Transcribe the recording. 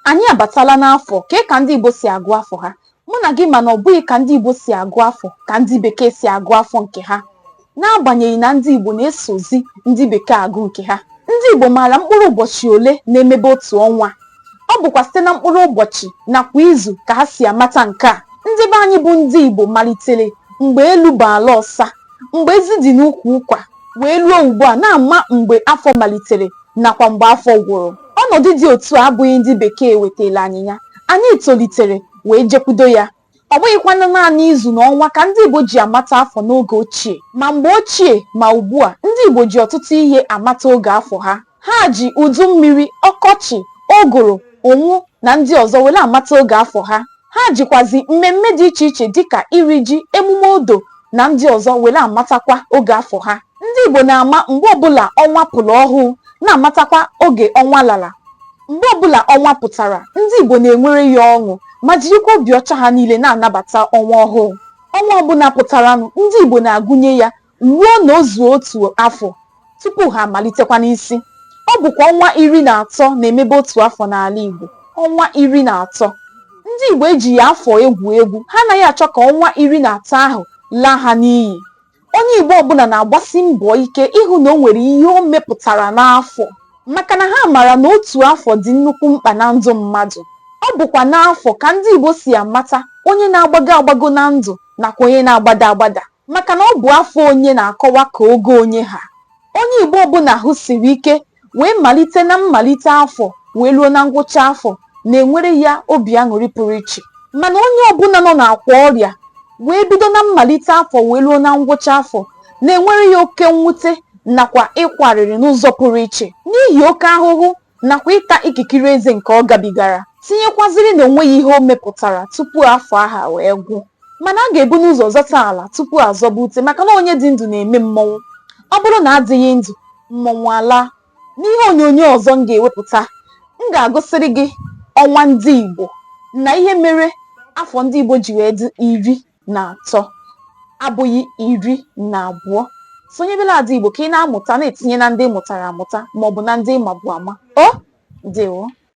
Anyị abatala n'afọ, kee ka ndị Igbo si agụ afọ ha? Mụ na gị ma na ọ bụghị ka ndị Igbo si agụ afọ ka ndị Bekee si agụ afọ nke ha. N'agbanyeghị na ndị Igbo na-esozi ndị Bekee agụ nke ha, ndị Igbo maara mkpụrụ ụbọchị ole na-emebe otu ọnwa. Ọ bụkwa site na mkpụrụ ụbọchị nakwa izu ka ha si amata nke a. Ndị be anyị bụ ndị Igbo malitere mgbe elu bụ ala ọsa, mgbe ezi dị n'ukwu ụkwa, wee ruo ugbu a na-ama mgbe afọ malitere nakwa mgbe afọ gwụrụ. Ọnọdụ dị otu a abụghị ndị Bekee wetaara anyị ya. Anyị tolitere wee jekwudo ya. Ọ bụghịkwanụ naanị izu na ọnwa ka ndị Igbo ji amata afọ n'oge ochie. Ma mgbe ochie ma ugbu a, ndị Igbo ji ọtụtụ ihe amata oge afọ ha. Ha ji udu mmiri, ọkọchị, ụgụrụ, ụnwụ na ndị ọzọ were amata oge afọ ha. Ha jikwazi mmemme dị iche iche dịka iri ji, emume odo na ndị ọzọ were amatakwa oge afọ ha. Ndị Igbo na-ama mgbe ọbụla ọnwa pụrụ ọhụụ, na-amatakwa oge ọnwa lara. Mgbe ọbụla ọnwa pụtara, ndị Igbo na-enwere ya ọṅụ ma jirikwa obi ọcha ha niile na-anabata ọnwa ọhụụ. Ọnwa ọbụla pụtaranụ, ndị Igbo na-agụnye ya ruo na o zuo otu afọ tupu ha amalitekwa n'isi. Ọ bụkwa ọnwa iri na atọ na-emebe otu afọ n'ala Igbo. Ọnwa iri na atọ! Ndị Igbo ejighị afọ egwu egwu. Ha anaghị achọ ka ọnwa iri na atọ ahụ laa ha n'iyi. Onye Igbo ọbụla na-agbasi mbọ ike ịhụ na o nwere ihe o mepụtara n'afọ maka na ha mara na otu afọ dị nnukwu mkpa na ndụ mmadụ. Ọ bụkwa n'afọ ka ndị Igbo si amata onye na-agbago agbago na ndụ nakwa onye na-agbada agbada. Maka na ọ bụ afọ onye na-akọwa ka ogo onye ha. Onye Igbo ọbụla ahụ siri ike wee malite na mmalite afọ wee ruo na ngwụcha afọ na-enwere ya obi aṅụrị pụrụ iche. Mana onye ọbụla nọ n'akwa ọrịa wee bido na mmalite afọ wee ruo na ngwụcha afọ na-enwere ya oke mwute nakwa ịkwa arịrị n'ụzọ pụrụ iche n'ihi oke ahụhụ nakwa ịta ikikiri eze nke ọ gabigara, tinyekwaziri na o nweghị ihe o mepụtara tupu afọ ahụ a wee gwụ. Mana a ga-ebu n'ụzọ zọta ala tupu a zọba ute maka na onye dị ndụ na-eme mmọnwụ. Ọ bụrụ na a dịghị ndụ, mmọnwụ alaa. N'ihe onyonyo ọzọ m ga-ewepụta, m ga-agụsịrị gị ọnwa ndị Igbo na ihe mere afọ ndị Igbo ji wee dị iri na atọ abụghị iri na abụọ sonyebela Ada Igbo ka ị na-amụta na-etinye na ndị mụtara amụta maọbụ na ndị mabu ama o ndewo